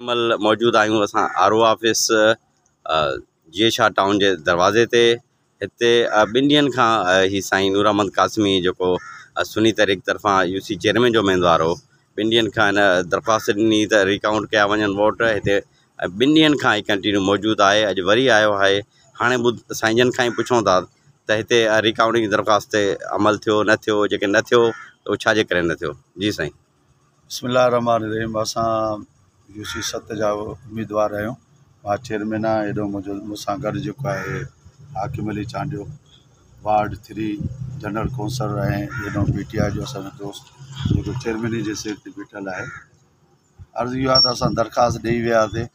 هن مهل موجود آهيون اسان آر او آفيس جي شاهه ٽائون جي دروازي تي هتي ٻن ڏينهن کان هي سائين نور احمد قاسمي جيڪو سني تحريڪ طرفان يو سي چيئرمين جو اميدوار هو ٻن ڏينهن کان هن درخواست ڏني ته ريڪائونٹ ڪيا وڃن ووٽ هتي ٻن ڏينهن کان هي ڪنٽينيو موجود آهي اڄ وري آيو آهي هاڻي ٻڌ سائين جن کان ئي پڇون ٿا ته هتي ريڪائونٽنگ جي درخواست تي عمل ٿيو نه ٿيو جيڪي نه ٿيو ته اهو ڇاجي ڪري نه ٿيو جي سائين بسم الله الرحمٰن الرحيم اسان يو سي ست جا اميدوار آهيون مان چيئرمين آهيان هيڏو منهنجو مون سان گڏ جيڪو آهي Hakim Ali Chandio ward three general council ۽ هيڏو پي ٽي آء جو اسانجو دوست جيڪو چيئرميني جي سيٽ تي بيٺل آهي عرض اهو آهي ته اسان درخواست ڏئي وياسين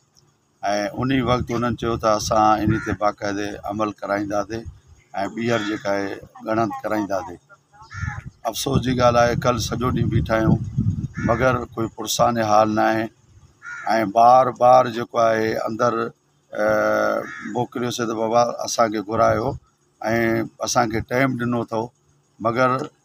۽ انهي وقت انهن چيو ته اسان انهي تي باقاعدي عمل ڪرائينداسين ۽ ٻيهر جيڪا آهي ڳڻت ڪرائينداسين افسوس جي ڳالهه آهي ڪل سڄو ڏينهن بيٺا آهيون مگر ڪوئي پرسان حال نه آهي ۽ بار بار جيڪو آهي اندر موڪليوسي ته بابا اسان کي گهرايو ۽ اسان کي ٽائيم ڏنو اٿئو مگر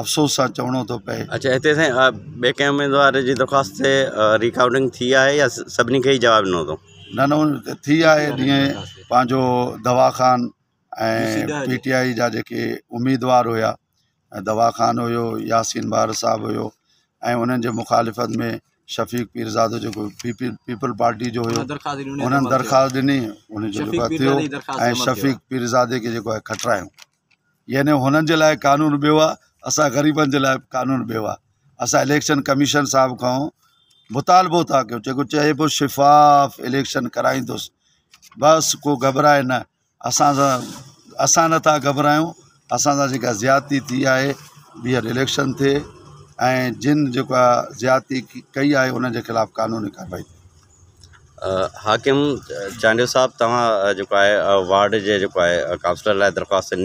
افسوس سان چوڻو ٿو پئي. اچا هتي سائين ٻي ڪنهن اميدوار جي درخواست تي ريڪارڊنگ ٿي آهي يا سڀني کي ئي جواب ڏنو اٿو. نه نه ٿي آهي جيئن پنهنجو دوا خان ۽ پي ٽي آئي جا جيڪي اميدوار هيا دوا خان هيو ياسين بار صاحب هيو ۽ انهن جي مخالفت ۾ شفيق پيرزادو جيڪو پي پي پيپل پارٽي جو هيو انهن درخواست ڏني ان جو ٿيو ۽ شفيق پيرزادي کي جيڪو آهي کٽرايو يعني هنن جي لاء قانون ٻيو آ اسان غريبن جي لاء قانون ٻيو آ اسان اليڪشن ڪميشن صاحب کان مطالبو ٿا ڪيو جيڪو چئي پيو شفاف اليڪشن ڪرائيندس بس ڪو گهٻرائي نه اسان سان اسان نٿا گهٻرايون اسان سان جيڪا زيادتي ٿي آهي ٻيهر اليڪشن ٿئي ۽ جن جيڪو آ زيادتي ڪئي آهي انهن جي خلاف قانوني ڪارروائي ٿئي حاڪم چانڊيو صاحب توهان جيڪو آهي وارڊ جي جيڪو آهي ڪائونسلر لاء درخواست ڏني